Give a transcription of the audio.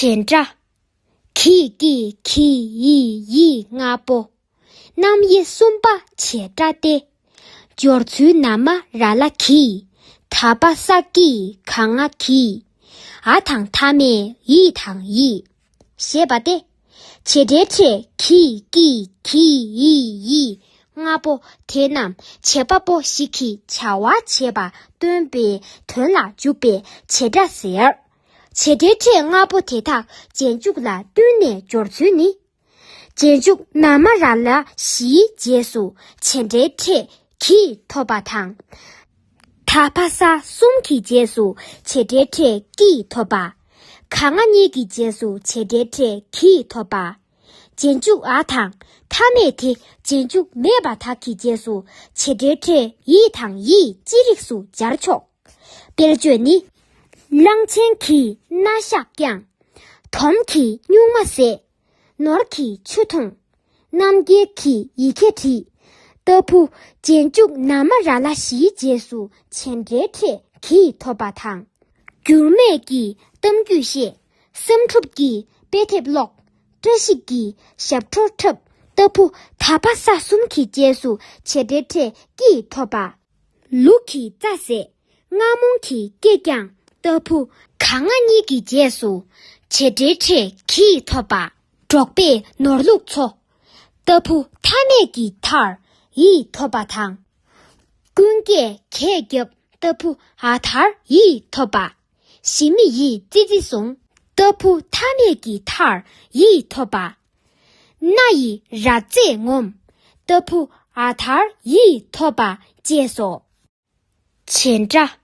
བྱེད་འདྲ། གིས་ཀྱིས་གྱིས་ཡིས་ཡིས་ལྔ་པོ། རྣམ་དབྱེ་གསུམ་པ་བྱེད་འདྲ་སྟེ། སྦྱོར་ཚུལ་ན་མ་ར་ལ་གིས། ད་པ་ས་ཀིས་ག་ང་གིས། ཨ་དང་ཐ་མས་ཡི་དང་ཡིས། ཞེས་པ་སྟེ། བྱེད་འབྲེལ་ཕྲད་གིས་ཀྱིས་གྱིས་ཡིས་ཡིས་ལྔ་པོ་དེ་རྣམས་བྱེད་པ་པོ་ཞིག་གིས་བྱ་བ་བྱེད་པ་སྟོན་པའི་དོན་ལ་འཇུག་པས་བྱེད་འདྲ་ཟེར། བྱེད་སྒྲའི་སྒྲས་ལྔ་པོ་དེ་དག་རྗེས་འཇུག་ལ་བསྟུན་ནས་སྦྱོར་ཚུལ་ནི། རྗེས་འཇུག་ན་མ་ར་ལ་བཞིའི་རྗེས་སུ་བྱེད་སྒྲའི་སྒྲས་གྱིས་ཐོབ་པ་དང། ད་བྷ་ས་གསུམ་གྱི་རྗེས་སུ་བྱེད་སྒྲའི་སྒྲས་ཀྱིས་ཐོབ་པ། ག་ང་གཉིས་ཀྱི་རྗེས་སུ་བྱེད་སྒྲའི་སྒྲས་གྱིས་ཐོབ་པ། རྗེས་འཇུག་ཨ་དང་ཐ་མས་དེ་རྗེས་འཇུག་མེད་པ་དག་གི་རྗེས་སུ་བྱེད་སྒྲའི་སྒྲས་ཡིད་དང་ཡིད་ཅི་རིགས་སུ་སྦྱར་ཆོག། དཔེར་བརྗོད་ནི། གླང་ཆེན་གྱིས་སྣ་ཞགས་བརྐྱངས། དོམ་གྱིས་སྨྱུག་མ་བཟས། ནོར་གྱིས་ཆུ་འཐུངས། རྣམ་རྒྱལ་གྱིས་ཡི་གེ་བྲིས། ལྟ་བུ། རྗེས་འཇུག་ན་མ་ར་ལ་ཞིའི་རྗེས་སུ་བྱེད་འབྲེལ་ཕྲད་གྱིས་ཐོབ་པ་དང། འགྱུར་མེད་ཀྱིས་གཏམ་རྒྱུད་བཤད། བསམ་འགྲུབ་ཀྱིས་དཔེ་དེབ་ཀློག། བཀྲ་ཤིས་ཀྱིས་ཞབས་བྲོ་འཁྲབ། ལྟ་བུ། ད་པ་ས་གསུམ་གྱི་རྗེས་སུ་བྱེད་འབྲེལ་ཕྲད་ཀྱིས་ཐོབ་པ། ལུག་གི་རྩ་ཟས་རྔ་མོང་གི་སྐེ་རྐྱང་ལྟ་བུ། ག་ང་གཉིས་ཀྱི་རྗེས་སུ་བྱེད་འབྲེལ་འཕྲད་གྱིས་ཐོབ་པ། འབྲོག་པའི་ནོར་ལུག་མཚོ་ལྟ་བུ་མཐའ་མེད་ཀྱི་མཐར་ཡིས་ཐོབ་པ་དང། ཀུན་དགའི་གས་རྒྱབ་ལྟ་བུ་ཨ་ཐར་ཡིས་ཐོབ་པ། ཞི་མི་ཡི་ཙི་ཙི་ཟུང་ལྟ་བུ་མཐའ་མེད་ཀྱི་མཐར་ཡིས་ཐོབ་པ། སྣ་ཡི་རྭ་རྩེ་ངོམས་ལྟ་བུ་ཨ་དར་ཡིས་ཐོབ་པ་བཅས་སོ། བྱེ་འདྲ